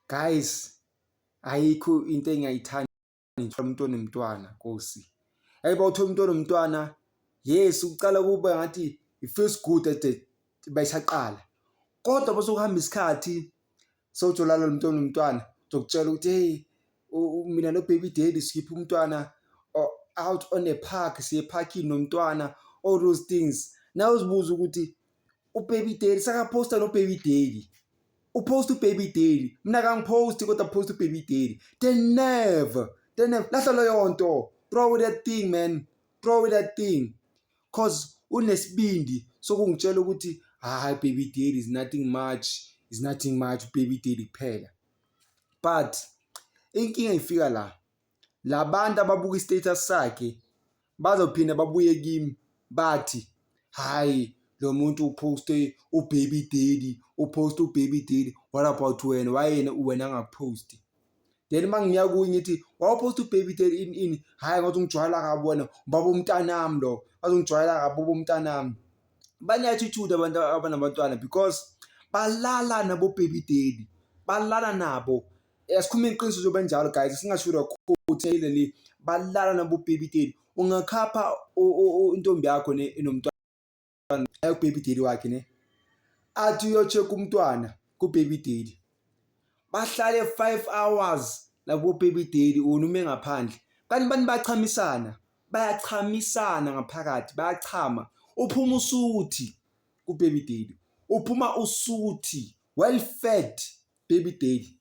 guys ayikho into engiyayithanda ngithola umuntu onomntwana nkosi yayi bawuthola umuntu onomntwana yes ucala kuba ngathi it feels good at the bayisaqala kodwa basokuhamba isikhathi sowuthola lo muntu onomntwana zokutshela ukuthi hey mina no baby daddy sikhipha umntwana out on a park siye parking nomntwana all those things now uzibuza ukuthi ubaby daily sakaphosta nobaby daily upost ubaby daily mina kangiphosti kodwa post ubaby daily they never they never lahla leyo nto throw away that thing man throw away that thing cause unesibindi sokungitshela ukuthi hayi baby daily is nothing much is nothing much baby daily kuphela but inkinga ifika la Labantu ababuka istatus sakhe bazophinda babuye kimi bathi hayi lo muntu uposte ubaby daddy uposte ubaby daddy what about wena wayena wena angaposti then uma ngiya kuye ngithi wawuposta ubaby daddy ini ini hhayi ngathi ungijwayela kabi wena ubaba umntanami lo ngathi ungijwayela kabi baba umntanami bane-attitude abantu abanabantwana because balala nabo baby daddy balala nabo Yasikhuluma iqiniso njengoba enjalo guys singashilo kakhulu ukuthi leli balala nabobhebideli ungakhapha intombi yakho ne inomntwana ayokubhebideli wakhe ne athi uyocheck umntwana kubhebideli bahlale 5 hours labobhebideli wona ume ngaphandle kanti bantu bachamisana bayachamisana ngaphakathi bayachama uphuma usuthi kubhebideli uphuma usuthi well fed baby daddy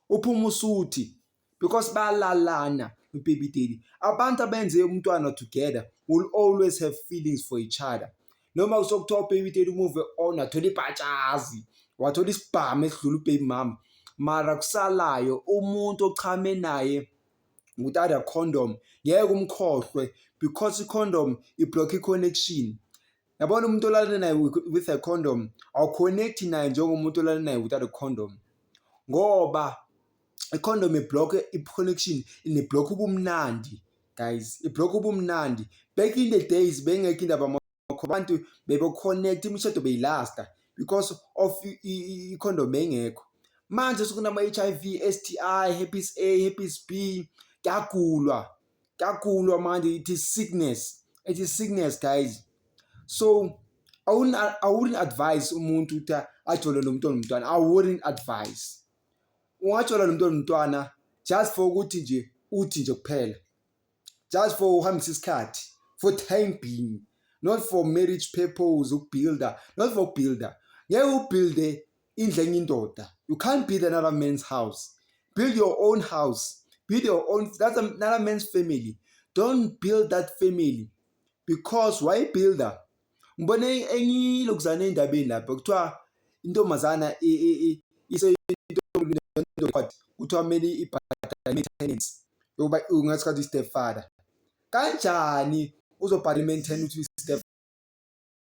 uphuma usuthi because bayalalana baby daddy abantu abenze umntwana together will always have feelings for each other noma kusokuthiwa ubaby daddy umuve on athola ibhatshazi wathola isibhamu esidlula ubaby mama mara kusalayo umuntu ochame naye without a condom ngeke umkhohlwe because i-condom iblock i-connection Yabona umuntu olalane naye with a condom awuconnect naye njengomuntu olalane naye without a condom ngoba i-condom iblock i-connection iniblock ubumnandi guys iblock ubumnandi back in the days bengekho indaba makho abantu bebeconnect imishado beyilasta because of i-condom beyingekho manje sekunama-h i v s t i herpes a herpes b kuyagulwa kakhulu amanje ithi sickness ethi sickness guys so I wouldn't, I wouldn't advise umuntu ukuthi ajole lo mntwana umntwana I wouldn't advise ungajola lo mntwana umntwana just for ukuthi nje uthi nje kuphela just for uhambisa isikhathi for time being not for marriage purpose ukubuilder not for builder ngeke ubuilde indlu enye indoda you can't build another man's house build your own house build your own that's another man's family don't build that family because why builder ngibone enye lokuzana endabeni lapho kuthiwa intombazana iseyintombi kuthiwa kumele ibhadale maintenance yokuba ungathi kathi stepfather kanjani uzobhadala maintenance ukuthi step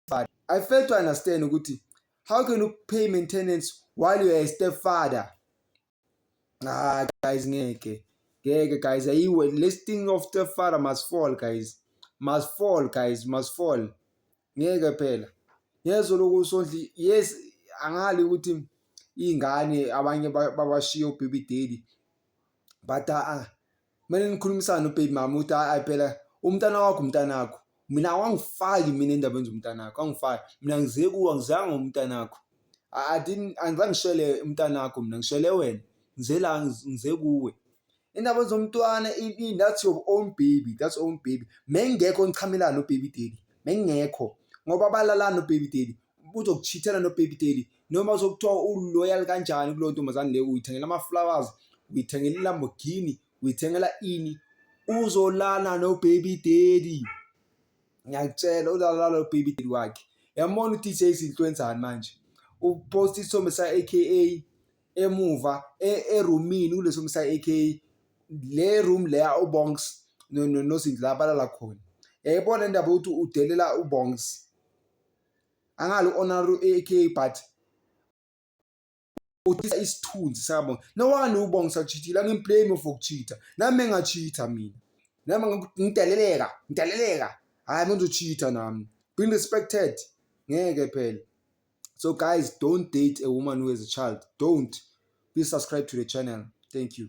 stepfather i fail to understand ukuthi how can you pay maintenance while you are a stepfather ah guys ngeke ngeke guys ayiwe this thing of stepfather must fall guys must fall guys must fall ngeke phela yezo lokusondli yes angali ukuthi ingane abanye babashiya ubhibideli but ah kumele nikhulumisane ubaby mama ukuthi hayi hayi phela umntana wakho umntanakho mina awangifaki mina endabeni zomntanakho angifaki mina ngize kuwe angizanga umntanakho angizange ngishele umntanakho mina ngishele wena ngize la ngize kuwe indaba zomntwana that's your own baby that's own baby mengekho nichamela no baby daddy mengekho ngoba balalana no baby daddy uzokuchithela nobaby daily noma uzokuthiwa uloyal kanjani kuleyo ntombazane leyo uyithengela ama-flowers uyithengela ilamborghini uyithengela ini uzolala nobaby daddy ngiyakutshela uzolala nobaby daddy wakhe yamona udj izinto wenzani manje uposta isithombe sa-aka emuva e-, erumini kuleso thombe sa-aka le room leya ubongs nosindla abalala khona yayibona indaba yokuthi udelela ubongs angali u-onaru aka but uthisa isithunzi sakabonga nowani ubonga sakuchithile angimblame for kuchitha nami engachitha mina nami ngideleleka ngideleleka hhayi mina uzochitha nami being respected ngeke phela so guys don't date a woman who has a child don't please subscribe to the channel thank you